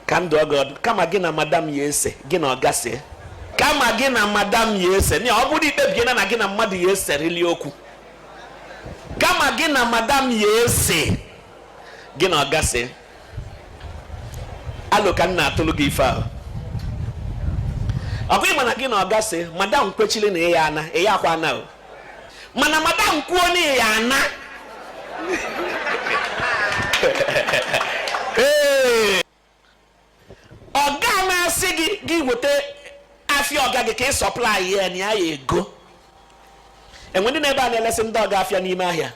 ka m dụọ gị ọdụ kama gị na madam ya ese gị na ọga see kama gị na madam ya ese na ọ bụrụ ikpebiena na gị na mmadụ ya eserili okwu kama gị na madam ya ese gị na ọga see alo ka m na-atụlụ gị ife ahụ ọkwa ịma na gị na ọga see madam kwechili na ị ya ana ị yakwa ana o mana madam kwuo na ya ana ọga na-asị gị gị weta afịa ọga gị ka ị sọplai ya na ya ya ego e nwee ndị nọ ebe a na-elesi ndị ọga afịa n'ime ahịa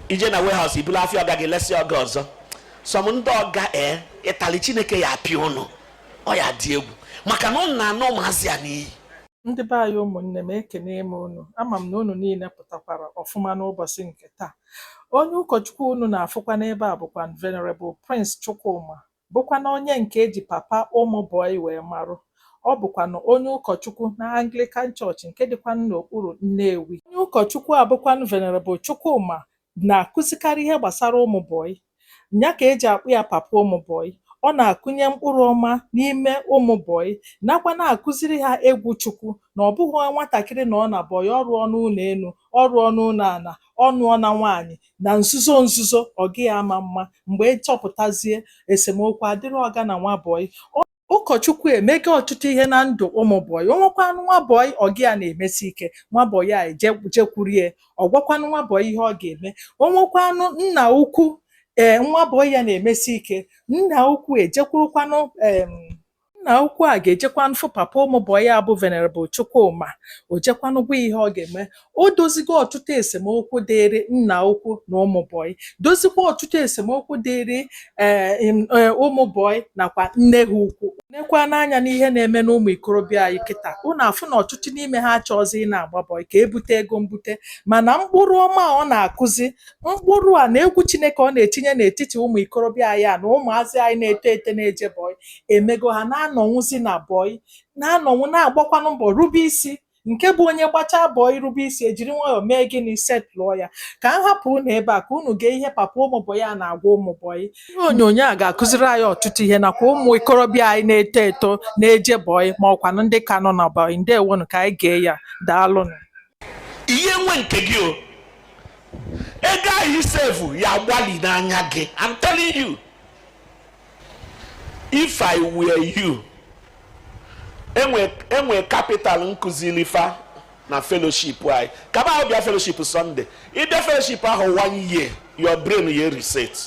ije na warehouse ibulu afịa ọga gị lesi ọga ọzọ some ndị ọga ee ịtali chineke ya apịa ụnụ ọ ya dị egwu maka na ụnụ na-ana ụmụazị a n'iyi Ndị be anyị ụmụnne m ekene m unu ama m na unu niile pụtakwara ọfụma n'ụbọsị nke taa onye ụkọchukwu unu na-afụkwa n'ebe a bụkwanụ Venerable Prince Chukwuma bụkwanụ onye nke eji papa ụmụ bọyị wee marụ ọ bụkwanụ onye ụkọchukwu na Anglican Church nke dịkwanụ n'okpuru Nnewi onye ụkọchukwu a bụkwanụ Venerable Chukwuma na-akụzikarị ihe gbasara ụmụ bọyị. Ya ka e ji akpọ ya papa ụmụ bọyị. Ọ na-akụnye mkpụrụ ọma n'ime ụmụ bọyị nakwa na-akụziri ha egwu Chukwu na ọ bụghị nwatakịrị nọọ na bọyị, ọ rụọnụ ụlọ enu, ọ rụọnụ ụlọ ana, ọ nụọ na nwaanyị, na nzuzo nzuzo ọ gị ama mma. Mgbe a chọpụtazie, esemokwu adịrị ọga na nwa bọyị. Ọ. ụkọchukwu emego ọtụtụ ihe na ndụ ụmụ bọyị o nwekwanụ nwa bọyị ọga ya na-emesi ike nwa bọyị a eje jekwurie ọ gwakwanụ nwa bọyị ihe ọ ga-eme o nwekwanụ nna ukwu ee nwa bọyị ya na-emesi ike nna ukwu ejekwurukwanụ em nna ukwu a ga-ejekwanụ fụ papa ụmụ bọyị a bụ venerable chukwuma o jekwanụ gwa ya ihe ọ ga-eme O dozigo ọtụtụ esemokwu dịịrị nna ukwu na ụmụ bọyị, dozikwa ọtụtụ esemokwu dịịrị ee eh, em, ee, eh, ụmụ bọyị nakwa nne ha ukwu. Nekwanụ anya n'ihe na-eme n'ụmụ ikorobịa anyị kịta, unu afụ na ọtụtụ n'ime ha achọghịzị ị na-agba bọyị ka ebute ego mbute, mana mkpụrụ ọma a ọ na-akụzi, mkpụrụ a na egwu Chineke ọ na-etinye n'etiti ụmụ ikorobịa anyị a na ụmụazị anyị na-eto eto na-eje bọyị emego ha na-anọnwụzi na bọyị, na-anọnwụ na-agbakwanụ mbọ rube isi Nke bụ onye gbachaa bọyị rube isi, e jiri nwayọọ mee gịnị? Setịlụọ ya. Ka m hapụ unu ebe a ka unu gee ihe papa ụmụ bọyị a na-agwa ụmụ bọyị. Ihe onyonyo a ga-akụziri anyị ọtụtụ ihe nakwa ụmụ ikorobịa anyị na-eto eto na-eje bọyị ma ọkwanụ ndị ka nọ na bọyị. Ndewonụ, ka anyị gee ya. Daalụnụ. ihe nwe nke gị o ego ahụ i sevu ya agbali n'anya gị I'm telling you if i were you enwe capital nkụziri fa na fellowship anyị kaba ahụ bịa fellowship sunday ịbịa fellowship ahụ one year your brain ya reset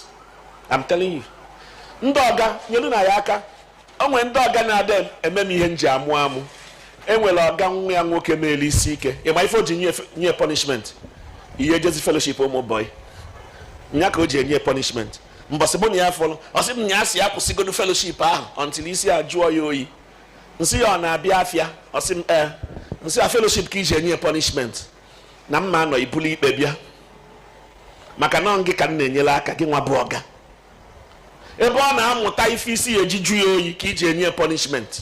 i'm telling you ndị ọga nyelu na ya aka o nwere ndị ọga na-ada eme m ihe m ji amụ amụ enwere ọga nwa ya nwoke meelu isi ike ịma ife o ji nye punishment ị ya ejezi fellowship ụmụ bọyị nya ka o ji enye punishment mbọsị mụ na ya fụrụ ọ sị m na ya sị ya kwụsịgodu fellowship ahụ until isi ya jụọ ya oyi nsị ya ọ na-abịa afịa ọ sị m ee nsị ya fellowship ka iji enye ya punishment na mma anọ ibulu ikpe bịa maka na gị ka m na-enyere aka gị nwa bụ ọga ebe ọ na-amụta ife isi ya eji jụọ ya oyi ka iji enye ya punishment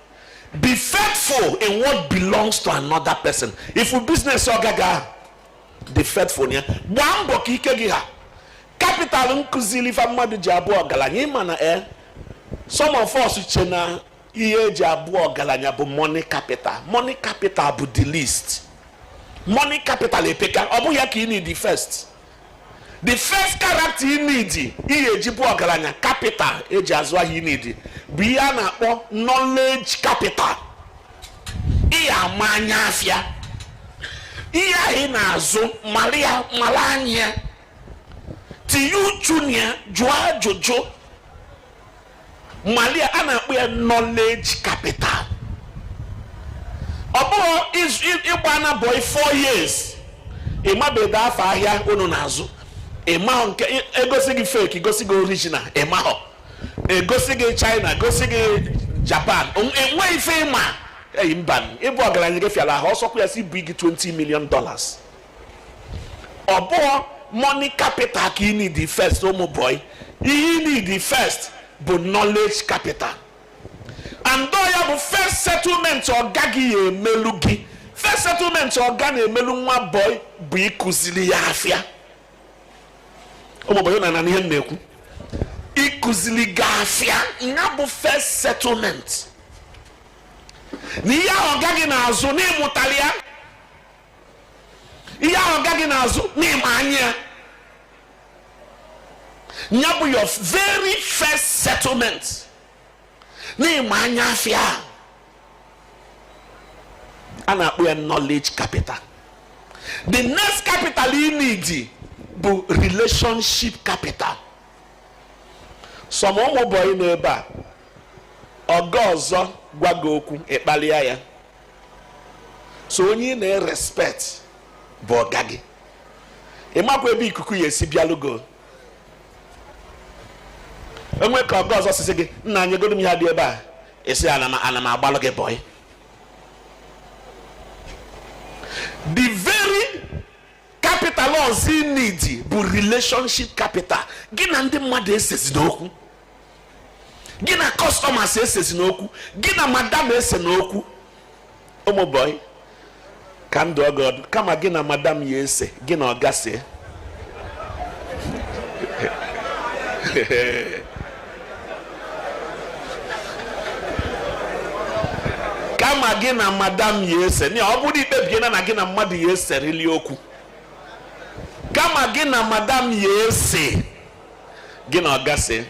be faithful in what belongs to another person if business ọga gị ahụ dị faithful na ya gbaa mbọ ka ike gị ha capital nkụziri fa mmadụ ji abụ ọgaranya ịma na e some of us che na ihe eji abụ ọgaranya bụ money capital money capital bụ the least money capital epeka ọ bụghị ya ka ị need first the first character you need ihe eji bụ ọgaranya capital eji azụ ahịa you need bụ ihe a na-akpọ knowledge capital ị ya-ama anya afịa ihe ahụ ị na-azụ mara ya mara anya ya tinye uchu na ya jụọ ajụjụ mali ya a na-akpọ ya knowledge capital ọ bụhọ ịgbaana bọyị 4 years ịmabeda afọ ahịa unu na-azụ ịmahọ nke egosi gị fake gosi gị original ịmahọ egosi gị china gosi gị japan enweghị ife ịma eyi mba ịbụ ọgaranya gị fịara ahụ ọsọkwa ya sị ebunye gị 20 million dollars ọ bụhọ money capital ka ị need first ụmụ bọyị ihe ị need first bụ knowledge capital and ọ ya bụ first settlement ọga gị ya emelu gị first settlement ọga na-emelu nwa bọyị bụ ịkụziri ya afịa ụmụ bọyị na-anụ ihe m na-ekwu ịkụziri gị afịa ya bụ first settlement na ihe ahụ ọga gị na-azụ n'ịmụtali ya ihe ahụ ọga gị na-azụ n'ịma anya ya ya bụ your very first settlement n'ịma anya afịa a na-akpọ ya knowledge capital the next capital you need bụ relationship capital some ụmụ bọyị n'ebe a ọga ọzọ gwa gị okwu ịkpalịa ya so onye ị na-erespect bụ ọga gị ị makwa ebe ikuku ya esi bịalugo enwe ka ọga ọzọ si sị gị nna nyegodu m ihe dị ebe a ị sị ana m agbalụ gị boy the very capital ọzọ ị needi bụ relationship capital gị na ndị mmadụ esezina okwu gị na customers esezina okwu gị na madam esena okwu ụmụ boy ka m dụọ gị ọdụ kama gị na madam ya ese gị na ọga see kama gị na madam ya ese na ọ bụrụ i kpebiela na gị na mmadụ ya eserili okwu kama gị na madam ya ese gị na ọga see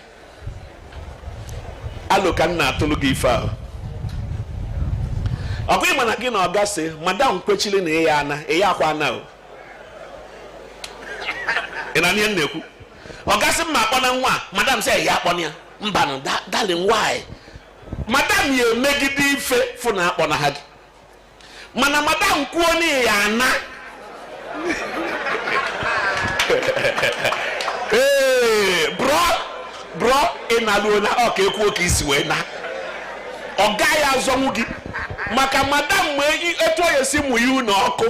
alo ka m na-atụlụ gị ife ahụ ọ kwa ị ma na gị na ọga see madam kwechili na ị ya ana ị yakwa ana o ị na-anụ ihe m na-ekwu ọga sị m ma akpọna nwa a, madam sị ya akpọna ya mbanụ da- darling why madam ya emegide ife fụ na akpọnaha gị mana madam kwuo na ị ya ana ee bro bro ị na-alụola ọga kwuo ka isi wee na ọ gaghị azọnwu gị maka madam ma eyi- etu ọ ya-esi mụnye ụnọ ọkụ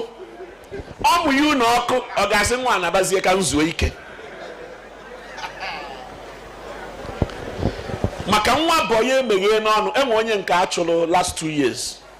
ọ mụnye ụnọ ọkụ ọga sị nwa a nabazie ka m zuo ike maka nwa boy emeghe n'ọnụ enwe onye nke a chụrụ last two years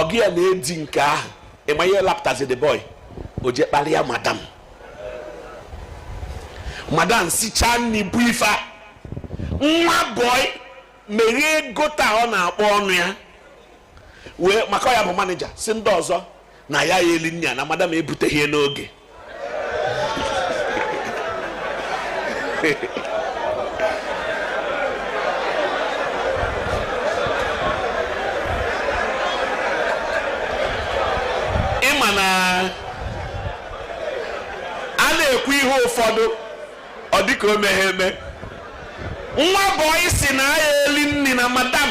ọga ya na-edi nke ahụ ị ma ihe lapụtazi the boy o je kpalịa madam madam sichaa nni bu ife a nwa boy meghee ego taa ọ na-akpọ ọnụ ya wee maka ọ ya bụ manager sị ndị ọzọ na ya ya eli nni a na madam ebuteghị ya n'oge ị ma na a na-ekwu ihe ụfọdụ ọ dịka o meghe eme nwa boy sị na ya eli nni na madam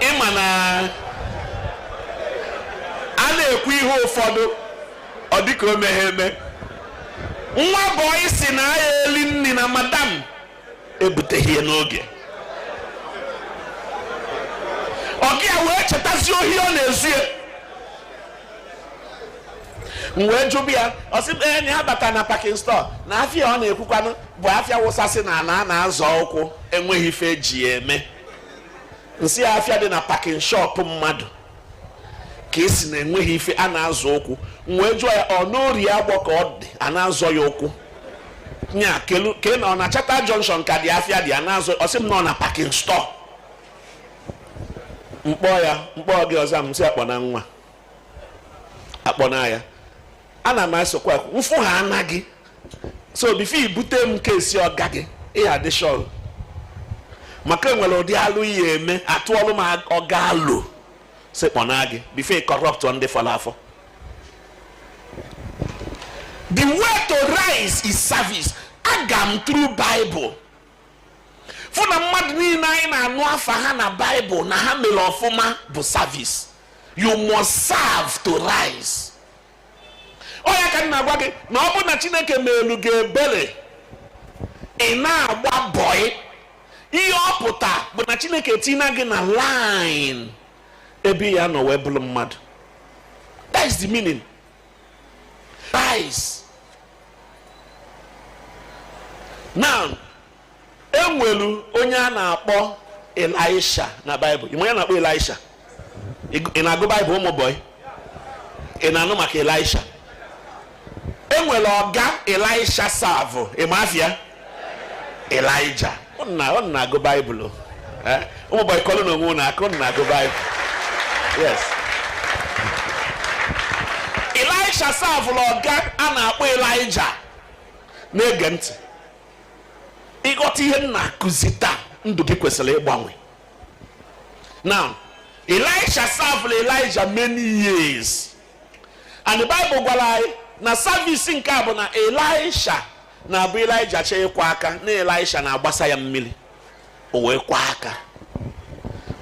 ị ma na a na-ekwu ihe ụfọdụ ọ dịka o meghe eme nwa boy sị na ya eli nni na madam ebuteghị ya n'oge ọga ya wee chetazi ohi ọ na-ezu ya m wee jụba ya ọ sị m ee na ya bata na packing store na afịa ọ na-ekwukwanụ bụ afịa wụsasị na ala a na-azọ ụkwụ enweghị ife eji ya eme m sị ya afịa dị na packing shop mmadụ ka ị sị na enweghị ife a na-azọ ụkwụ m wee jụọ ya ọ n'Orie Agbọ ka ọ dị a na-azọ ya ụkwụ nya ke na ọ na chata junction ka dị afịa dị a na-azọ ọ sị m na ọ na packing store m kpọ ya m kpọ gị ọ za m sị akpọ na nwa akpọ na ya ana m asokwa m fụ ha anaghị so before i bute m case ọga gị ị ya-adị sure maka enwere ụdị alụ ị ya-eme atụọlụ m ọga alo sị kpọnaa gị before ị corrupt ndị fọrọ afọ the way to rise is service agaa m through bible fụ na mmadụ niile anyị na-anụ afa ha na baịbụl na ha mere ọfụma bụ service you must serve to rise ọ ya ka m na-agwa gị na ọ bụ na chineke meelu gị ebere ị na-agba bọị ihe ọ pụta bụ na chineke tina gị na line ebe ị ya-anọ wee bụrụ mmadụ that is the meaning Rise. Now, enwelu onye a na-akpọ Elisha na Baịbụl. Ị ma onye a na-akpọ Elisha? Ị na-agụ Baịbụl ụmụ bọyị? Ị na-anụ maka Elisha? Enwere ọga Elisha savụ, ị ma afa ya? elijah ụnụ na-agụ baịbụl eh? ụmụ bọị kụọlụ nụ onwe ụnụ aka ụnụ na-agụ baịbụl yes elisha savụlụ ọga a na-akpọ elijah na-ege ntị ị ghọta ihe m na-akụzi taa ndụ gị kwesịrị ịgbanwe now elisha savụlụ elijah many years and the bible gwara anyị na service nke a bụ na elisha na-abụ Elijah chọọ ịkwọ aka na Elisha na-agbasa ya mmiri o wee kwọ aka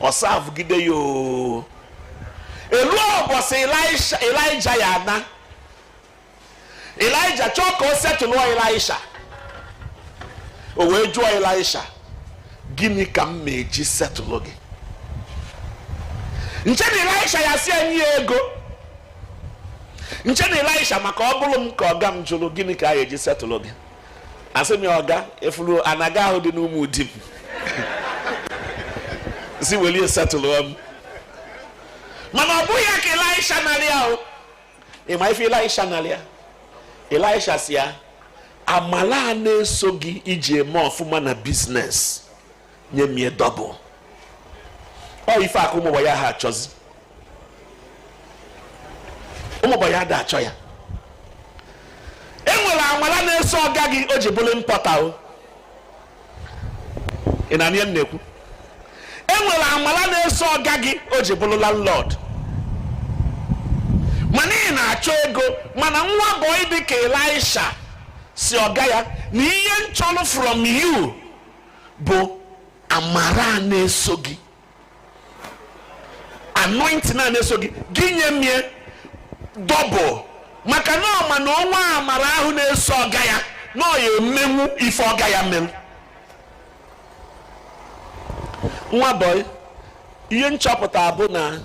ọ savụgide ya oo e luo ọbọsị Elijah ya-ana Elijah chọọ ka o setụlụ Elisha o wee jụọ Elisha gịnị ka m ya-eji setụlụ gị m chee na Elisha ya-asị ya nye ya ego nche na Ịlaịsha maka ọ bụrụ m ka ọga m jụrụ gịnị ka a ga-eji setụlụ gị asị m ya ọga ị fụrụ ana gị ahụ dị n'Ụmụdim si weli ya setụlụ m mana ọ bụghị ya ka Ịlaịsha narị ya o ị ma ife Ịlaịsha narị ya Ịlaịsha si ya amala a na-eso gị i ji eme ọfụma na biznes nye m ya dọbụl ọ ife a ka ụmụ bọị aha achọzi ụmụ bọị ada achọ ya enwere amala na-eso ọga gị o ji bụrụ impọta o ị na-anụ ihe m na-ekwu enwere amala na-eso ọga gị o ji bụrụ landlord mana ị na-achọ ego mana nwa bọị dị ka Elisha si ọga ya na ihe m chọrọ from you bụ amara a na-eso gị anointing a na-eso gị gị nye m ya dọbụl maka na ọ ma na o nwee amara ahụ na-eso ọga ya na ọ ya-emenwu ife ọga ya mere nwa bọị ihe m chọpụta bụ na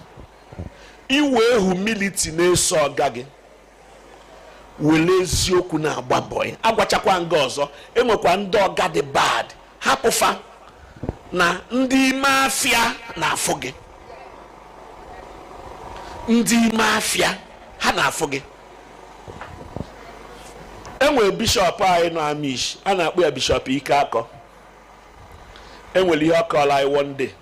i we humility na-eso ọga gị were eziokwu na-agba bọị agwachakwa nga ọzọ enwekwa ndị ọga dị bad hapụ fa na ndị ime afịa na-afụ gị ndị ime afịa ha na-afụ gị enwere bishọp anyị nọ Amichi a na-akpọ ya bishọp Ikeakor enwere ihe ọ kọrọ anyị one day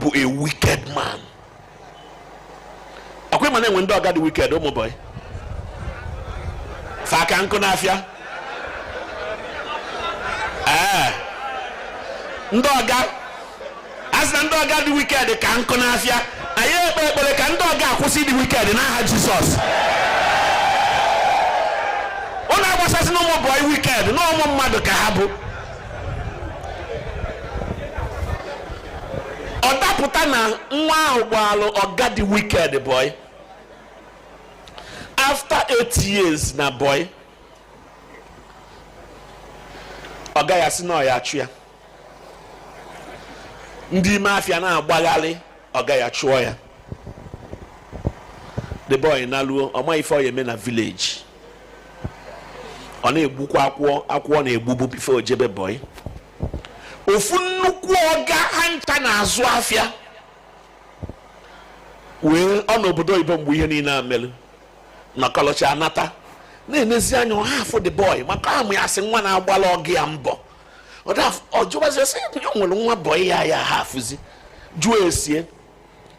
bụ a wicked man ọ kwa ị ma na e nwe ndị ọga dị wicked ụmụ bọyị fa ka nkụ n'afịa ee eh. ndị ọga a sị na ndị ọga dị wicked ka nkụ n'afịa anyị ekpe ekpere ka ndị ọga a kwụsị dị wicked n'aha jizọs unu agbasasịna ụmụ bọyị wicked na ụmụ mmadụ ka ha bụ ọ dapụta na nwa ahụ gbaalụ ọga dị wicked boy after eight years na boy ọga ya si na ọ ya-achụ ya ndị ime afịa na-agbagharị ọga ya chụọ ya the boy naluo ọ ma ife ọ ya-eme na village ọ na-egbukwa akwụ ọ na-egbubu bifo o jebe bọị ofu nnukwu ọga ha ncha na-azụ afịa wee ọ nọ obodo oyibo mgbe ihe niile a mere na kọlọchi anata na-enezi anya ọ ha afụ the boy maka a ma ya sị nwa na-agbalụ ọga ya mbọ ọ jụbazi sị ya nwere nwa bọị ya ya ha afụzi jụọ ese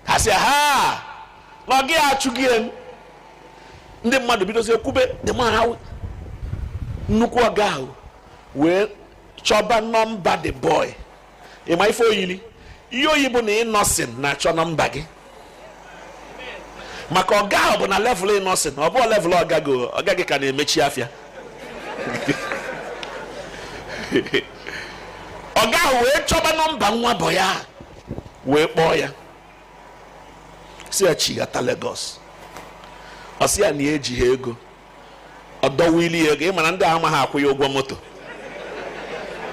ha sị ha na ọga ya achụghị m ndị mmadụ bidozie kwube the man ha nnukwu ọga ahụ wee chọba nọmba the boy ị ma ife o yili ihe o yi bụ na Innoson na-achọ nọmba gị maka ọga ahụ bụ na level Innoson ọ bụọ level ọga gị ọga gị ka na-emechi afịa ọga ahụ wee chọba nọmba nwa bọyị a wee kpọọ ya sị ya chighata Lagos ọ sị ya na ya ejighị ego ọ dọwili ya ego ị mara ndị a amaghị akwụ ya ụgwọ moto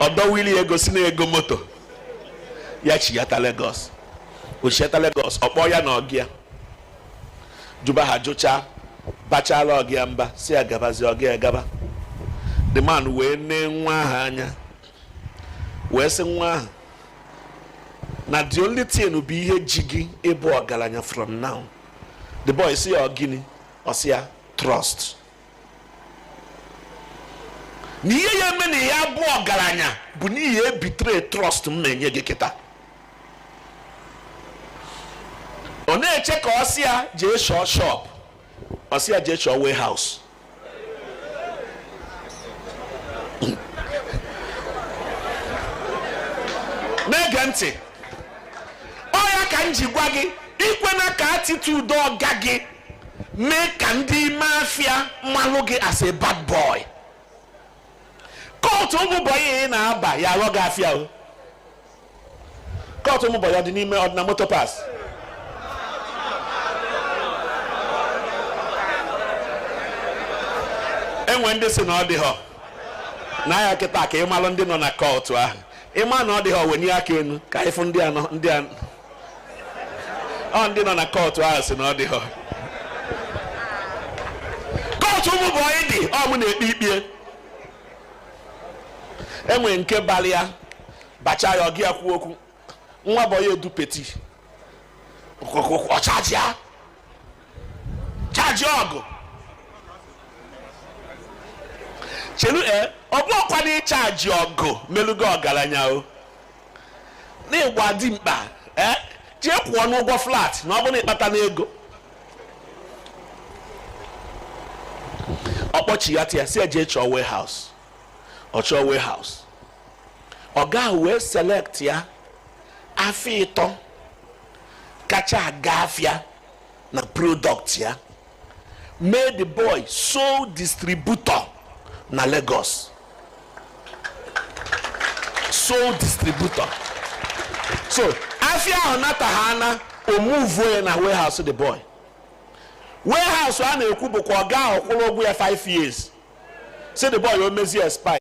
ọ dọwili ya ego sị na ego moto ya chighata Lagos o chighata Lagos ọ kpọọ ya na ọga ya jụba ha jụchaa bachala ọga ya mba sị ya gabazi ọga ya gaba the man wee nee nwa ahụ anya wee sị nwa ahụ na the only thing bụ ihe ji gị ịbụ ọgaranya from now the boy sị ya gịnị ọ sị ya trust na ihe ya eme na ya bụ ọgaranya bụ n'ihi ị betray trust m na-enye gị kịta ọ na-eche ka ọ sị ya jee shọọ shop ọ sị ya jee shọọ warehouse na-ege ntị ọ ya ka m ji gwa gị ikwena ka attitude ọga gị mee ka ndị ime afịa malụ gị as a bad boy kọtụ ụmụ bọyị ị na-aba ya aghọ gị afịa o kọtụ ụmụ bọyị ọ dị n'ime ọ dị na motor parts e nwe ndị sị na ọ dịghọ na ya kịta ka ị malụ ndị nọ na kọtụ ahụ ị ma na ọ dịghọ wenye aka enu ka ị fụ ndị anọ ndị anọ ọ ndị nọ na kọtụ ahụ sị na ọ dịghọ kọtụ ụmụ bọyị dị ọ mụ na-ekpe ikpe e nwe nke balị ya bacha ya ọga ya kwuo okwu nwa bọyị edu peti ọ chaji ya chaji ọgụ chelu e ọ bụ ọkwa na ị chaji ọgụ melugo ọgaranya o n'ịgba dimkpa ee eh, jee kwụọnụ ụgwọ flat na ọ bụ na ị kpatana ego ọ kpọchighata ya sị e jee chọọ warehouse ọ chọọ warehouse ọga ahụ wee select ya afịa ịtọ kacha aga afịa na product ya made the boy sole distributor na Lagos sole distributor so afia ahụ nata ha na o muvuo ya na warehouse the boy warehouse a na-ekwu bụkwa ọga ahụ kwụrụ ụgwọ ya 5 years sị the boy o mezie expire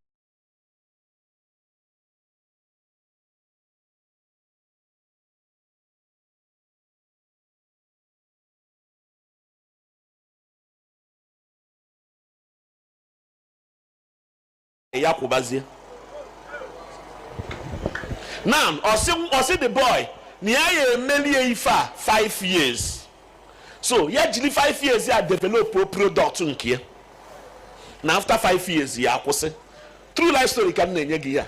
ya kwụbazie now ọ sị the boy na ya ya-emelie ife a 5 years so ya jiri 5 years ya developuo product nke ya na after 5 years ya akwụsị true life story ka m na-enye gị ya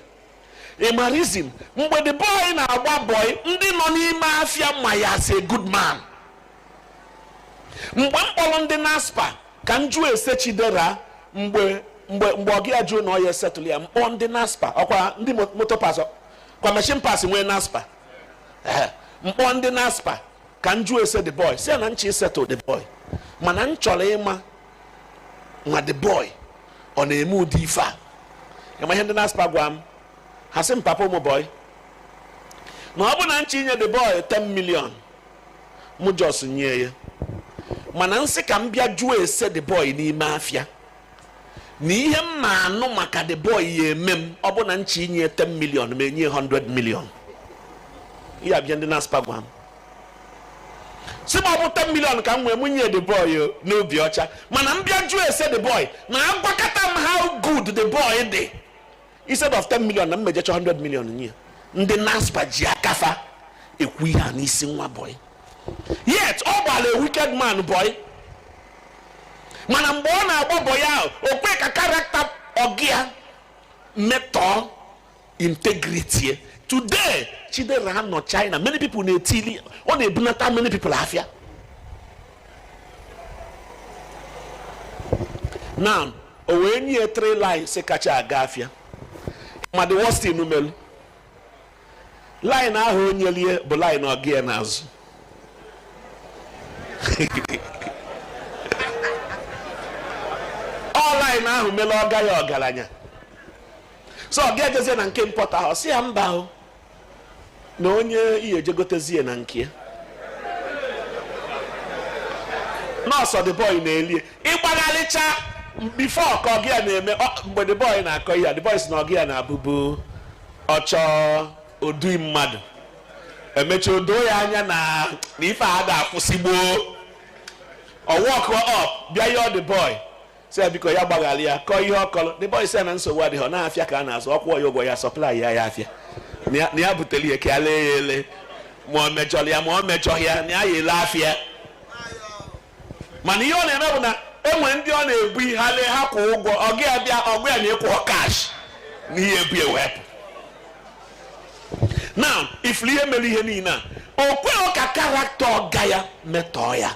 ị ma reason mgbe the boy na-agba boy ndị nọ n'ime afịa ma ya as a good man mgbe m kpọrọ ndị naspa ka m jụọ ese chidera mgbe ọga ya jụ na ọ ya-esettle ya m kpọọ ndị naspa ọ kwa ndị motor parts kwa machine parts nwee naspa m kpọọ ndị naspa ka m jụọ ese the boy sị ya na m chọ isettle the boy mana m chọrọ ịma ma the boy ọ na-eme ụdị ife a ị ma ihe ndị naspa gwa m ha sị m papa ụmụ boy na ọ bụ na m chọ inye the boy 10 million mụ just nye ya mana m sị ka m bịa jụọ ese the boy n'ime afịa na ihe m ma-anụ maka the boy ya-eme m ọ bụ na m chọ inye 10 million ma enye 100 million ihe a bụ ihe ndị naspa gwa m sị m ọ bụ 10 million ka m nwee mụ nye the boy n'obi ọcha mana m bịa jụọ ese the boy na a gwakata m how good the boy dị instead of 10 million na m ma-eje chọ 100 million nye ya ndị naspa ji aka fa ekwu ihe a n'isi nwa boy yet ọ gbara a wicked man boy mana mgbe ọ na-agba boy ahụ o kwe ka character ọga ya metọọ integrity today chidera nọ china many people na-etili ọ na-ebunata many people afịa now o wee nye three lines kacha aga afịa ma the worst thing o melu line ahụ o nyelie bụ line ọga ya na-azụ ọ line ahụ mele ọga ya ọgaranya so ọga ya jezie na nke importer ahụ sị ya mba ahụ na onye ihe ejegotezie na nke ya nọọsụ the boy na-elie ịgbagharịcha before ka ọga ya na-eme mgbe the boy na-akọ ihe the boy sị na ọga ya na-abụbu ọ chọọ odui mmadụ e mechaa o doo ya anya na ife a ga-akwụsị gboo ọ walk up bịa yọọ the boy sị ya biko ya gbaghara ya kọọ ihe ọ kọrọ the boy sị ya na nsogbu adịghị ọ na afịa ka a na-azụ ọ kwụọ ya ụgwọ ya supply ya ya afịa na ya- na ya butere ya ka ya lee ya ele ma ọ mejọrọ ya ma ọ mejọghị ya na ya ya ele afịa mana ihe ọ na-eme bụ na e nwe ndị ọ na-ebu ihe ha lee ha kwụọ ụgwọ ọga ya bịa ọga ya na-akwụ cash na ihe ebu ewepụ now ị fụrụ ihe mere ihe niile a o kweghị ka character ọga ya metọọ ya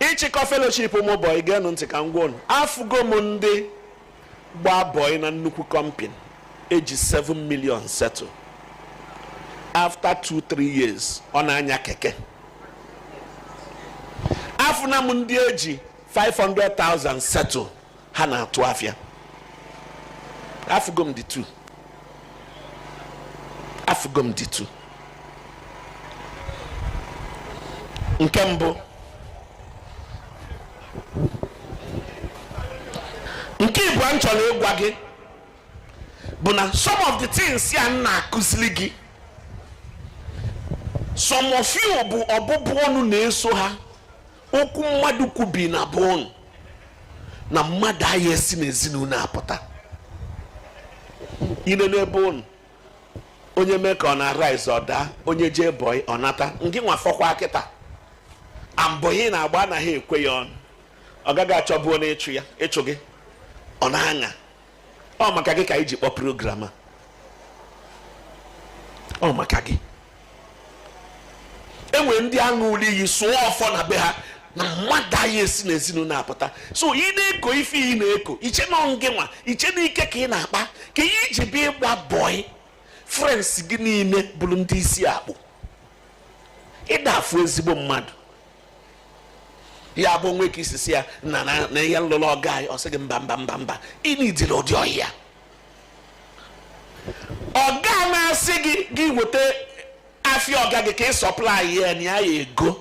ịchịkọ fellowship ụmụ bọyị geenụ ntị ka m gwa unu afụgo m ndị gba bọyị na nnukwu company eji 7 million settle after 2-3 years ọ na-anya keke afụna m ndị eji 500,000 settle ha na-atụ afịa afụgo m the two afụgo m the two nke mbụ nke ịbụa m chọrọ ịgwa gị bụ na some of the things a m na-akụziri gị some of you bụ ọbụbụ ọnụ na-eso ha okwu mmadụ kwubi na be ụnụ na mmadụ aya esi n'ezinụlọ a pụta i lee na be ụnụ onye mee ka ọ na-arise ọ daa onye jee bọị ọ nata ngị nwa fọkwa kịta a bọyị ị na-agba anaghị ekwe ya ọnụ ọga gị achọbụ onye ịchụ ya ịchụ gị ọ na-aṅa ọ maka gị ka anyị ji kpọọ program a ọ maka gị e nwe ndị a ṅụụlụ iyi sụọ ọfọ na be ha na mmadụ aya esi n'ezinụlọ a pụta so ị na-eko ife ị na-eko i che na ọ ngị nwa i che na ike ka ị na-akpa ka ihe i ji bịa ịgba bọị friends gị niile bụrụ ndị isi akpụ ị da afụ ezigbo mmadụ ya bụ o nwe ka i si sị ya na na na ihe m lụlụ ọga anyị ọ sị gị mba mba mba mba ịnidiri ụdị ọhịa ọ ga na-asị gị gị weta afịa ọga gị ka ị supply ya na ya ya ego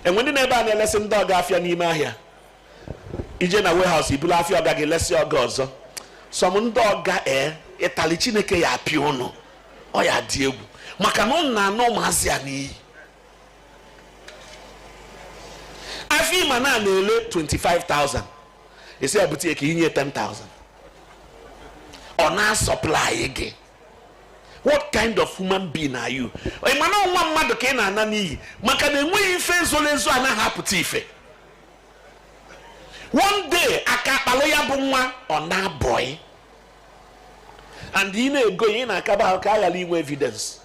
e nwe ndị n'ebe a na-elesi ndị ọga afịa n'ime ahịa i jee na warehouse i bulu afịa ọga gị lesi ọga ọzọ some ndị ọga ee ịtali chineke ya apịa ụnụ ọ ya-adị egwu maka na ụnụ na-ana ụmụazị a n'iyi afịa ị ma na a na-ele 25,000 ị sị ya bute ka i nye 10,000 ọ na-asupply gị what kind of human being are you ị ma na nwa mmadụ ka ị na-ana n'iyi maka na enweghị ife ezoro ezo anaghị apụta ife one day aka akpalụ ya bụ nwa ọ naa bọị and ị na-ego ya ị na-akaba ahụ ka a ghara inwe evidence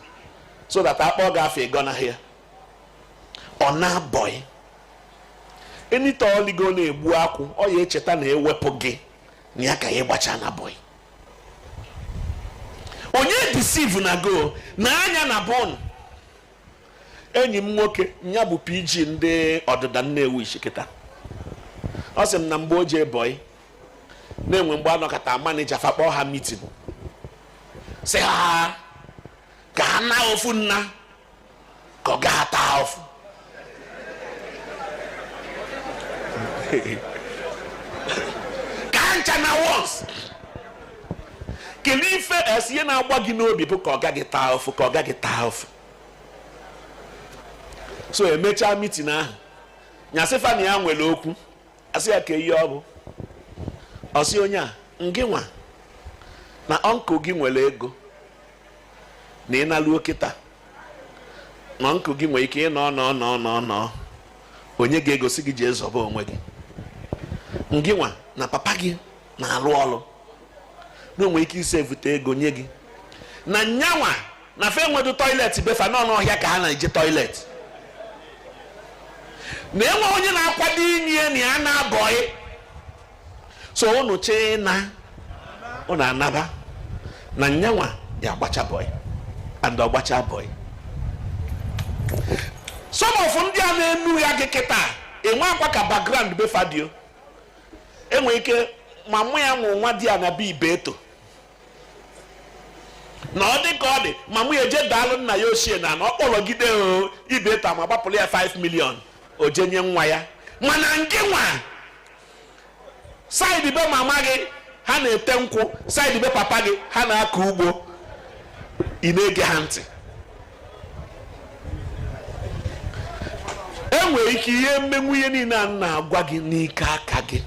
so that a kpọọ gị afa ị gọnahụ ya ọ naa bọị enita o ligo na-egbu akwụ ọ ya echeta na ewepụ gị na ya ka ya gbacha na bọị onye deceive na go na anya na bọọlụ enyi m nwoke ya bụ pg ndị ọdịda nnewichi kịta ọ sị m na mgbe o jee bọị na enwe mgbe a nọkata manager fa akpọọ ha meeting sị ha ka ha naa ofu nna ka ọga taa ụfụ ka ha ncha naa once kelee ife e sị ya na-agba gị n'obi bụ ka ọga gị taa ụfụ ka ọga gị taa ụfụ so emechaa meeting ahụ nya sị fa na ya nwere okwu a sị ya kaa ihe ọ bụ ọ sị onye a ngị nwa na uncle gị nwere ego na ị naluo kịta na uncle gị nwere ike ịnọ nọ nọ nọ nọ o nye gị ego sị gị jee zọba onwe gị ngị nwa na papa gị na-alụ ọlụ na o nwe ike isi evute ego nye gị na nyanwa na fa enwedu toilet be fa n'ọnụ ọhịa ka ha na-eje toilet na enwe onye na-akwado inye na ya naa bọị so unu chee na unu anaba na nyanwa ya agbacha bọị and ọ gbachaa bọị some of ndị a na-enugha gị kịta enwekwa ka background be fa dị o enwe ike mama ya wụ nwadiana be ibeto na ọ dị ka ọ dị mama ya eje daalụ nna ya ochie n'ana ọ kpọrọgide ibeto ma gbapụrụ ya 5 million o je nye nwa ya mana ngị nwa side be mama gị ha na-ete nkwụ side be papa gị ha na-akọ ugbo ị na-ege ha ntị enwere ike i ya-emenwu ihe niile a m na-agwa gị n'ike aka gị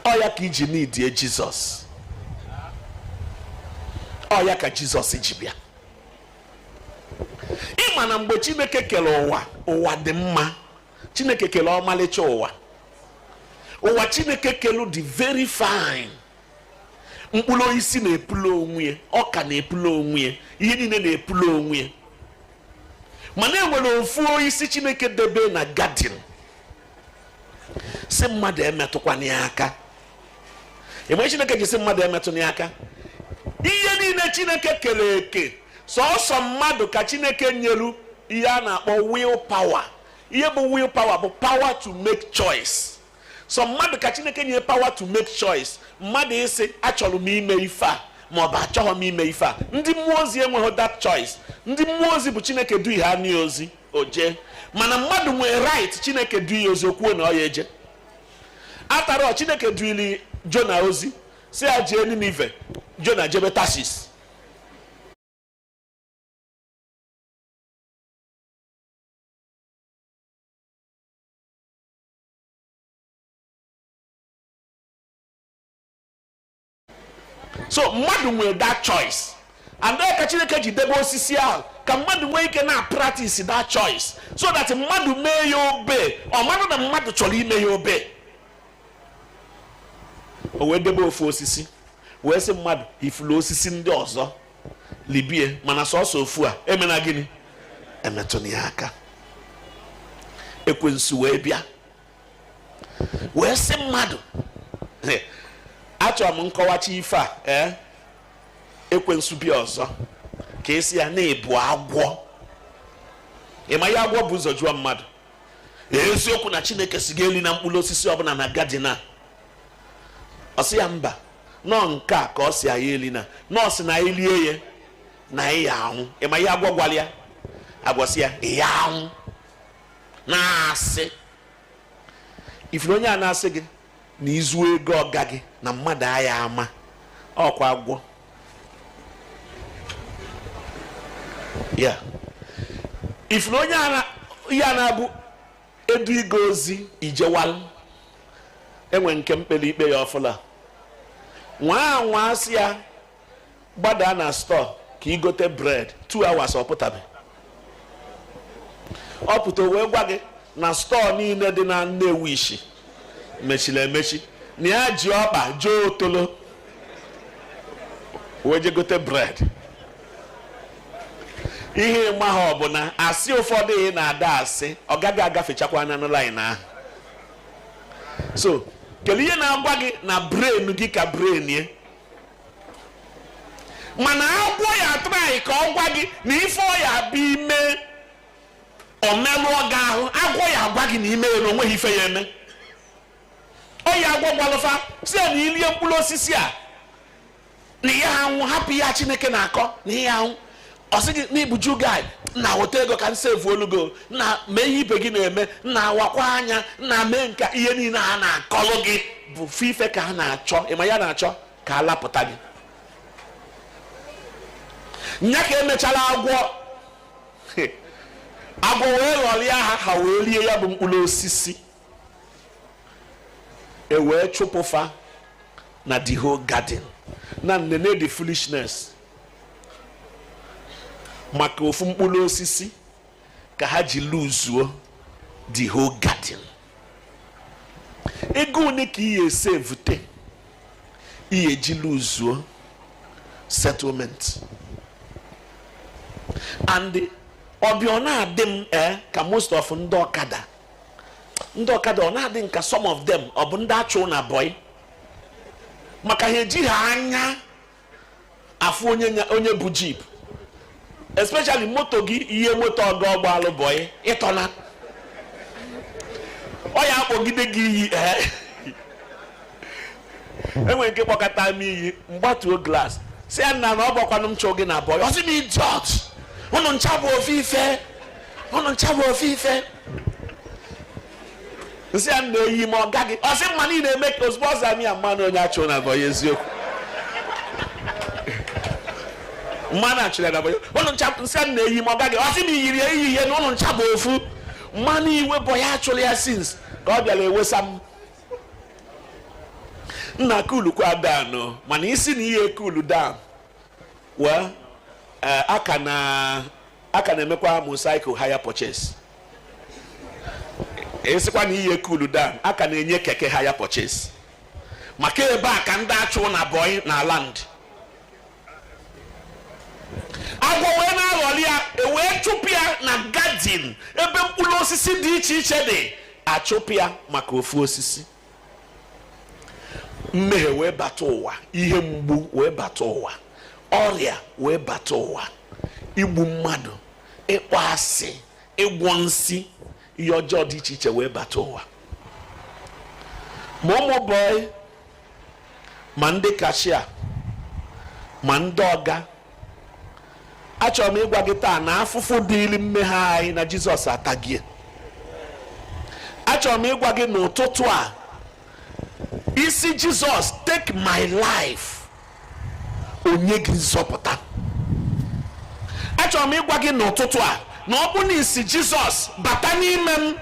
ọ ya ka iji needie jizọs ọ ya ka jizọs ji bịa ịma na mgbe chineke kere ụwa ụwa dị mma chineke kere ọmalịcha ụwa ụwa chineke kelu dị very fine mkpụrụ osisi na-epulu onwe ya ọka na-epulu onwe ya ihe niile na-epulu onwe ya mana enwere ofu osisi chineke debe na gadin si mmadụ emetụkwana ya aka ihe chineke ji si mmadụ emetụna ya aka ihe niile chineke kere eke sọsọ mmadụ ka chineke nyeru ihe a na-akpọ will power ihe bụ will power bụ power to make choice sọ mmadụ ka chineke nye power to make choice mmadụ ịsị achọrọ m ime ife a ma ọ bụ achọghị m ime ife a ndị mmụọ ozi enweghị that choice ndị mmụọ ozi bụ chineke duie onye ozi o jee mana mmadụ nwere right chineke du ya ozi o kwuo na ọ ya eje after all chineke duili jona ozi si ya jee ninive jona jebe tasis so mmadụ nwere that choice and ka chineke ji debe osisi ahụ ka mmadụ nwee ike na practice that choice so that mmadụ mee ya obey ọ mara na mmadụ chọrọ ime ya obey o wee debe ofu osisi wee sị mmadụ ifulu osisi ndị ọzọ libie mana sọsọ ofu a emena gịnị emetụna ya aka ekwensu wee bịa wee sị mmadụ achọrọ m ịkọwacha ife a ee eh, ekwensu bịa ọzọ ka esi ya na ị bụ agwọ ịma ihe agwọ bu ụzọ jụọ mmadụ eziokwu na chineke si gị elina mkpụrụ osisi ọbụla na gadin a ọ sị ya mba na ọ nke a ka ọ si anyị elina na ọ sị na anyị lie ya na anyị ya anwụ ịma ihe agwọ gwara ya agwọ sị ya ị ya anwụ na-asị ifuru onye a na-asị gị na ị zuo ego ọga gị na mmadụ aya ama ọkwa agwọ ya ifuru onye a na-abụ e duie gị ozi ijewal enwere nke m kpere ikpe ya ọfụla nwa nwa asị ya gbadaa na store ka i gote bread 2 hours ọ pụtabe ọ pụta wee gwa gị na store niile dị na Nnewichi mechili emechi na ya ji ọkpa jee Otolo wee je gote bread ihe ị maha ọ bụ na asị ụfọdụ ị na-ada asị ọ gaghị agafechakwa na line ahụ so kedu ihe na-agwa gị na brain gị ka brain ye mana agwọ ya try ka ọ gwa gị na ife ọ ya-abụ i mee o melụọ gị ahụ agwọ ya-agwa gị na i mee ya na o nweghị ife ya-eme ọ ya agwọ gwalụ fa sị na i lie mkpụrụ osisi a na ị ya-anwụ hapụ ihe Chineke na-akọ na ị ya-anwụ ọ sị gị na ị bụ jew guy nna weta ego ka m sevuolu gị nna mee ihe ibe gị na-eme nna wakwa anya nna mee nka ihe niile a na-akọlụ gị bụ ofu ife ka a na-achọ ị ma ihe a na-achọ ka a lapụta gị nya ka e mechalụ agwọ agwọ wee ghọrịa ha ha wee rie ya bụ mkpụrụ osisi e wee chụpụ fa na the whole garden nna nene the foolishness maka ofu mkpụrụ osisi ka ha ji luzuo the whole garden ego one ka ị ya-esevute ị ya-eji luzuo settlement and ọ bịa ọ na-adị m ee eh, ka most of ndị ọkada ndị ọkada ọ na-adị m ka some of them ọ bụ ndị a chụ na boy maka ha ejiha anya afụ onye bu jeep especially moto gị yie moto ọga ọ gbaalụ boy ị tọna ọ ya-akpọgide gị iyi e nwere nke kpọkata m iyi m gbatuo glass sị ya nna na ọ bụkwanụ m chụ gị na boy ọ sị m idiot ụnụ ncha bụ ofu ife ụnụ ncha bụ ofu ife m sị ya nna eyi m ọga gị ọ sị mma niile eme ka ozugbo ọ zara m ya m manụ onye a chụrụ na boy eziokwu m ma na a chụrụ ya na boy ụnụ ncha m sị ya nna eyi m ọga gị ọ sị m yiri ya eyihe na ụnụ ncha bụ ofu m ma na iwe boy a chụrụ ya since ka ọ bịara ewesa m nna kulukwa down mana ị sị na ị ya-ekulu down wee aka na aka na-emekwa motorcycle hire purchase esikwa na ihe kulu down a ka na-enye keke hire purchase maka ebe a ka ndị achụ na bọị na land agwọ wee na-aghọli ya e wee chụpụ ya na gadin ebe mkpụrụ osisi dị iche iche dị a chụpụ ya maka ofu osisi mmehie wee bata ụwa ihe mgbu wee bata ụwa ọrịa wee bata ụwa igbu mmadụ ịkpọ asị ịgwọ nsị ihe ọjọọ dị iche iche wee bata ụwa ma ụmụ bọị ma ndị kashia ma ndị ọga achọrọ m ịgwa gị taa na afụfụ dịịrị mmehie anyị na jizọs atagie achọrọ m ịgwa gị n'ụtụtụ a ị sị jizọs take my life o nye gị nzọpụta achọrọ m ịgwa gị n'ụtụtụ a na ọ bụ na ị sị jizọs bata n'ime m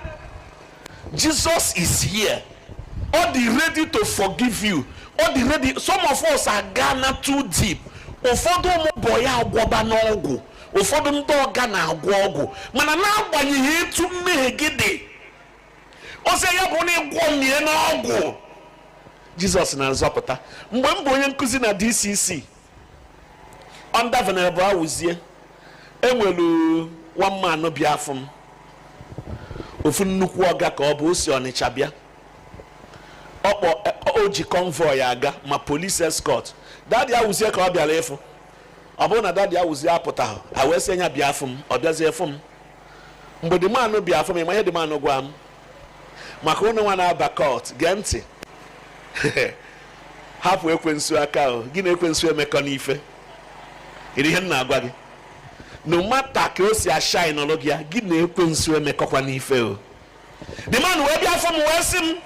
jizọs is here ọ dị ready to forgive you ọ dị ready some of us are gone too deep ụfọdụ ụmụ bọị agwọba n'ọgwụ ụfọdụ ndị ọga na-agwọ ọgwụ mana n'agbanyeghị etu mmehie gị dị ọ sị ya bụ na ị gwọmie n'ọgwụ jizọs na-azọpụta mgbe m bụ onye nkụzi na dcc under venerable awụzie enwelu one man bịa afụ m ofu nnukwu ọga ka ọ bụ o si ọnịcha bịa ọkpọ o ji convoy aga ma police escort dadi awụzie ka ọ bịara ịfụ ọ bụrụ na dadi awụzie apụtaghị a wee sị nya bịa afụ m ọ bịazie fụ m mgbe the man bịa afụ m ị ma ihe the man gwa m maka unu nwa na-aba cult gee ntị hapụ ekwensu aka o gị na ekwensu emekọna ife ịdị ihe m na-agwa gị no matter ka o si ashainụrụ gị ya gị na ekwensu emekọkwana ife o the man wee bịa afụ m wee sị m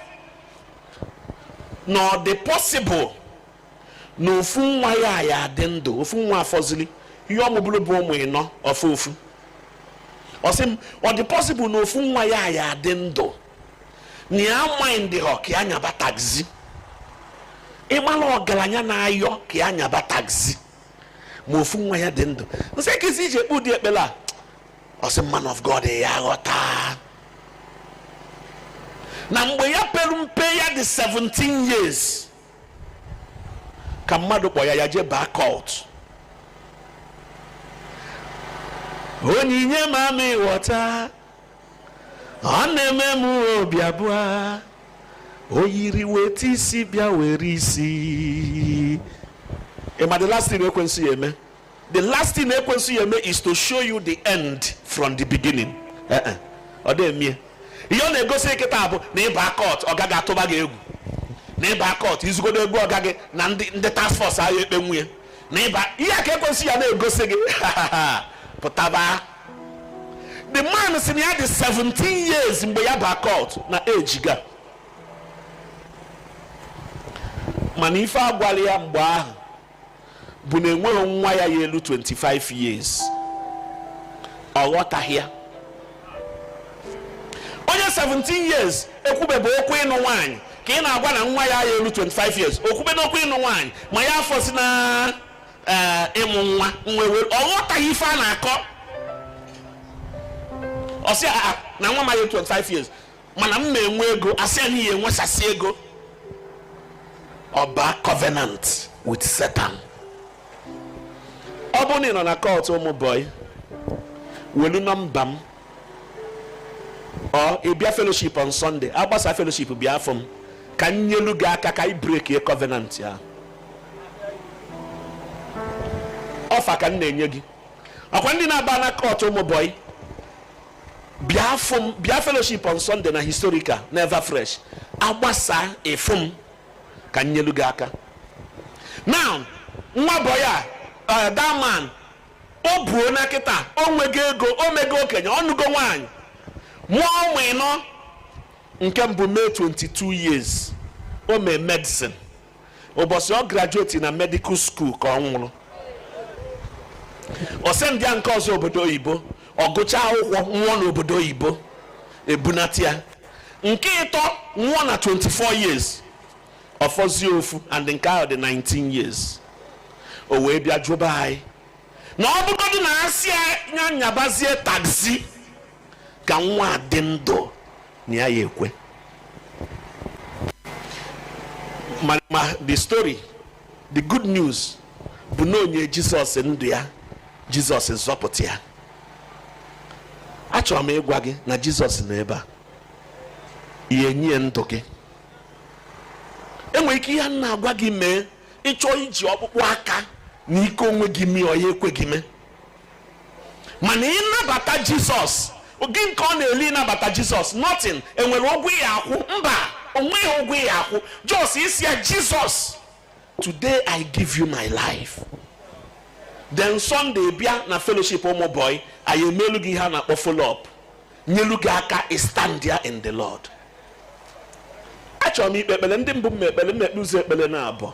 na ọ dị possible na ofu nwa ya ya adị ndụ ofu nwa afọzili ihe ọ mụburu bụ ụmụ ịnọ ọ fọ ofu ọ sị m ọ dị possible na ofu nwa ya ya adị ndụ na ya maịndịhọ ka ya nyaba taxi ịmala ọgaranya na-ayọ ka ya nyaba taxi ma ofu nwa ya dị ndụ m sị kezi i ji ekpe ụdị ekpere a ọ sị man of god ya ghọta na mgbe ya pere mpe ya dị 17 years ka mmadụ kpọ ya ya jee baa cult onyinye ma m ị ghọta ọ na-eme m obi abụọ o yiri weta isi bịa were isi ị ma the last thing ekwensu ya-eme the last thing ekwensu ya eme is to show you the end from the beginning eh, eh. ọ dị eme ihe ọ na-egosi kịta bụ na ịba cult ọ gaghị atụba gị egwu na ịba cult izugodo egwu ọga gị na ndị task force ahụ ekpe nwunye na ịba ihe ka ekwensu ya na-egosi gị pụtaba the man sị na ya dị 17 years mgbe ya ba cult na ejiga mana ife agwala ya mgbe ahụ bụ na enweghị nwa ya ya elu 25 years ọ ghọtaghị ya onye 17 years ekwubebe okwu ịnụ nwaanyị ka ị na-agwa na nwa ya ya elu 25 years okwube n'okwu ịnụ nwaanyị ma ya afọzi na eh, ịmụ nwa nwa ewere ọ ghọtaghị ife a na-akọ ọ sị na nwa ama elu 25 years mana m na-enwe ego asị ya na ị ya enwesasị ego ọ baa covenant with Satan ọ bụrụ na ị nọ na cult ụmụ bọyị welu nọmba m or ị bịa fellowship on Sunday agbasa fellowship bịa afụ m ka m nyelu gị aka ka ị brekie covenant ya offer ka m na-enye gị ọkwa ndị na-aba na cult ụmụ bọyị bịa fụ m bịa fellowship on Sunday na historical na ever fresh agbasa ị fụ m ka m nyelu gị aka now nwa bọyị a eh, that man o buo na kịta o nwego ego o mego okenye ọ nụgo nwaanyị mụọ ụmụ ịnọ nke mbụ mee 22 years o mee medicine ụbọchị ọ graduate na medical school ka ọ nwụrụ o sendịa nke ọzọ obodo oyibo ọ gụcha akwụkwọ nwụọ n'obodo oyibo ebunata ya nke ịtọ nwụọ na 24 years ọ fọzie ofu and nke ahụ dị 19 years o wee bịa jụba anyị na ọ bụgodị na asị ya nyabazie taxi ka nwa a dị ndụ na ya ya ekwe ma ma the story the good news bụ na o nye jizọs ndụ ya jizọs zọpụta ya achọrọ m ịgwa gị na jizọs nọ ebe a ị ya enye ya ndụ gị enwere ike ihe m na-agwa gị mee ị chọọ iji ọkpụkpụ aka na ike onwe gị mee ọ ya ekwe gị mee mana ị nabata jizọs gịnị ka ọ na-eli ịnabata jizọs nothing e nwere ụgwọ ị ya akwụ mba o nweghị ụgwọ ị ya akwụ just ị sị ya jizọs today i give you my life then sunday bịa na fellowship ụmụ bọyị anyị emelu gị ihe a na-akpọ follow up nyelu gị aka ị standịa in the lord achọrọ m ikpe ekpere ndị mbụ m ekpere m ekpe ụzọ ekpere naabọ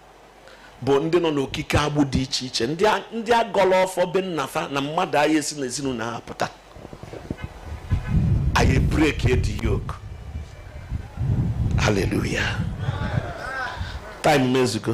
bụ ndị nọ n'okike agbụ dị iche iche ndị agọla ọfọ be nnafa na mmadụ ayị esi n'ezinụlọ ha pụta anyị breakie the yoke haleluya time ezugo